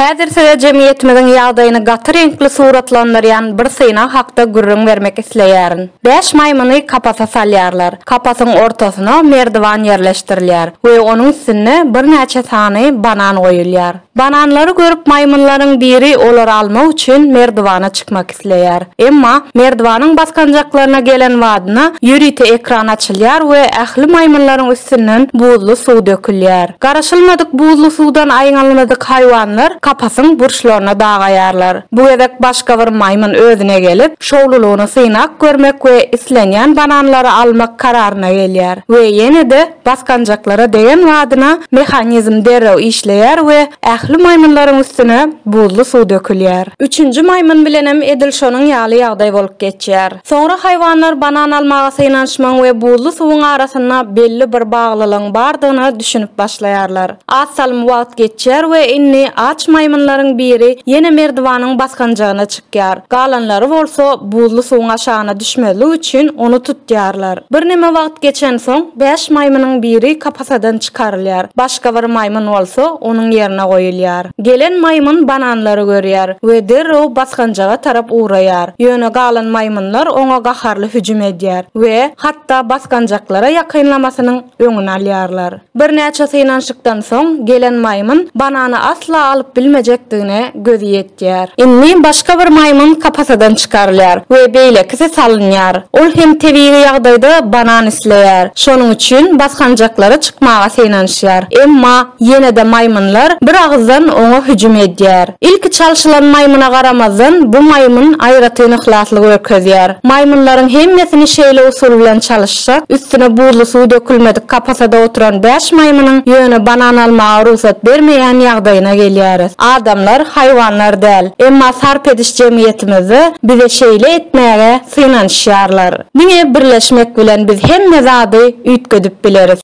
Häzir size jemgyýetimiziň ýagdaýyny gaty reňkli suratlandyrýan bir synag hakda gürrüň bermek isleýärin. Bäş maýmyny kapasa salýarlar. Kapasyň ortasyna merdiwan ýerleşdirilýär we onuň üstünde birnäçe sany banan goýulýar. Bananlary görüp maýmynlaryň biri olary almak üçin merdiwana çykmak isleýär. Emma merdiwanyň basgançaklaryna gelen badyna ýörite ekran açylýar we ähli maýmynlaryň üstünden buzly suw dökülýär. Garaşylmadyk buzly suwdan aýňalmadyk haýwanlar kapasyň burçlaryna dagaýarlar. Bu gezek başga bir maýmyn özüne gelip, şowlulygyny synap görmek we islenýän bananlary almak kararyna gelýär we ýene-de Basgançaklara degen badyna mehanizm derrew işleýär we ähli maýmynlaryň üstüne buzly suw dökülýär. Üçünji maýmyn bilenem edil şonuň ýaly ýagdaý bolup geçýär. Soňra haýwanlar banan almaga synanyşmagyň we buzly suwuň arasynda belli bir baglylygyň bardygyna düşünip başlaýarlar. Az salym wagt geçýär we indi aç maýmynlaryň biri ýene merdiwanyň basgançagyna çykýar. Ýar. Galanlary bolsa buzly suwuň aşagyna düşmezlik üçin ony tutýarlar. Birneme wagt geçensoň, bäş maýmynyň biri kapasadan çykarylýar, başga bir maýmyn bolsa onuň ýerine goýulýar. Gelen maýmyn bananlary görýär we derrew basgançaga tarap ugraýar. Ýöne galan maýmynlar oňa gaharly hüjüm edýär we hatda basgançaklara ýakynlamasynyň öňüni alýarlar. Birnäçe synanyşykdan soň, gelen maýmyn banany asla alyp bilmejekdigine gözi ýetýär. Indi başga bir maýmyn kapasadan çykarylýar we beýlekisi salynýar. Ol hem tebigy ýagdaýda banan isleýär. Şonuň üçin basgançaklara çykmaga synanyşýar. Emma ýene-de maýmynlar bir agyzdan oňa hüjüm edýär. Ilki çalşylan maýmyna garamazdan, bu maýmyn aýratyn yhlasly görkezýär. Maýmynlaryň hemmesini şeýle usul bilen çalyşýar. Şak, üstüne buzly suw dökülmedik kapasada oturan bäş maýmynyň ýöne banan almaga rugsat bermeýän ýagdaýyna gelýäris. Adamlar haýwanlar däl, emma sarp ediş jemgyýetimizde bize şeýle etmäge synanyşýarlar. Diňe birleşmek bilen biz hemme zady üýtgedip bileris.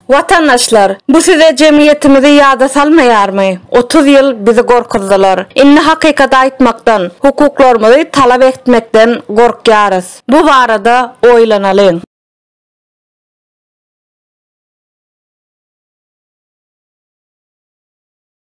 Watandaşlar, bu size jemgyýetimizi ýada salmaýarmy? Otuz ýyl bizi gorkuzdylar. Indi hakykaty aýtmakdan, hukuklarymyzy talap etmekden gorkýarys. Bu barada oýlanalyň.